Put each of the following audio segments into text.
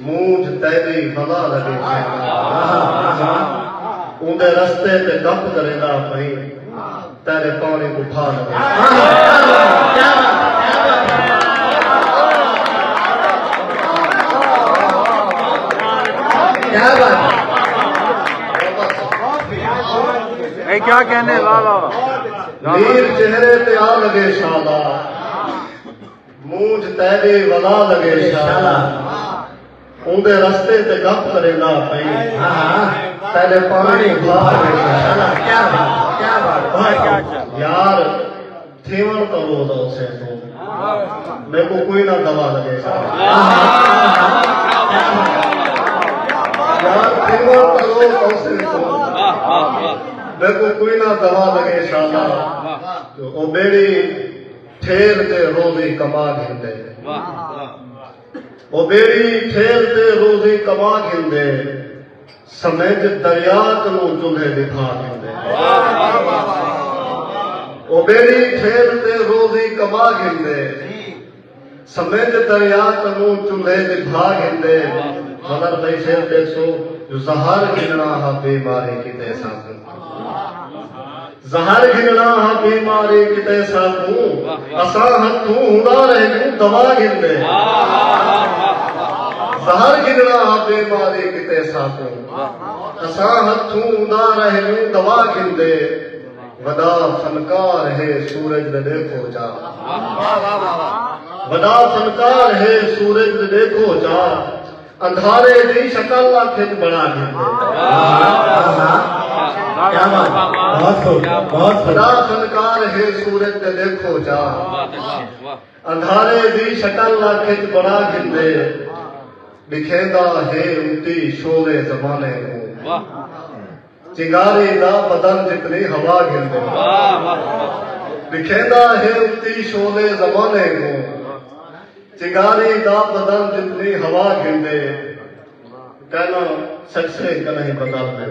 مونجھ تیݙی ولا لگے اوندے رستے تے ڈپ کریندا پئی تیݙے پاݨی کوں بھا لگے کیا کہنے واہ واہ میر چہرے تے آ لگے شاباش مونجھ تیݙے ولا لڳے شالا اوندے رستے تے گپ کریندا پئیں تیݙے پاݨی بھا لڳے شالا کیا بات کیا بات یار تھیون تو روز او سے تو میں کو کوئی نہ دوا لگے میں کو کوئی نہ دوا لگے شالا او بیڑی ٹھیل تے روزی کما گھندے۔ او ٻیڑی ٹھیل تے روزی کما گھندے۔ سمجھ دریا کنوں چلھے ݙکھا گھندے۔ او ٻیڑی ٹھیل تے روزی کما گھندے۔ سمجھ دریا کنوں چلھے دی بھا گھندے مگر بھئی پھر ڈیکھسو جو زہر گھننا ہا بے ماری کیتے ساکوں زہر گھننا ہا بے ماری کیتے ساکوں اساں ہتھوں ہڑا رہ گوں دوا گھندے زہر گھننا ہا بے ماری کیتے ساکوں اساں ہتھوں ہڑا رہ گوں دوا گھندے ودا فنکار ہے سورج دے ڈیکھو چا ودا فنکار ہے سورج دے ڈیکھو چا اندھارے دی شکل اکھج بنا دے ودا فنکار ہے سورج دے ڈیکھو چا اندھارے دی شکل اکھج بنا گھندے دکھیندا ہے اتی شولے زمانے کو چنگاری دا بدن جتنی ہوا گھندے بکھیندا ہے اتی شولے زمانے کو چنگاری دا بدن جتنی ہوا گھندے کہنا سکسے کہیں بدل دے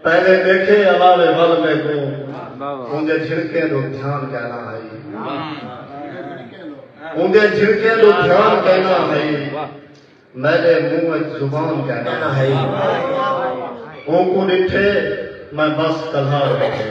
پہلے ڈیکھے اوارے ول میکوں اوندے جھڑکیں دو دھیان کہنا ہائی اوندے جھڑکیں دو دھیان کہنا ہائی میرے منہ وچ زبان کہنا ہائی اونکوں ڈٹھے میں بس کلھا رکھے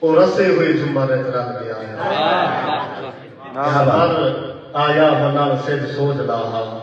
او رسے ہوئے جمبر اچ رل گیا ہے۔ ہر آیا ہو نال سجھ سوجھ دا ہا۔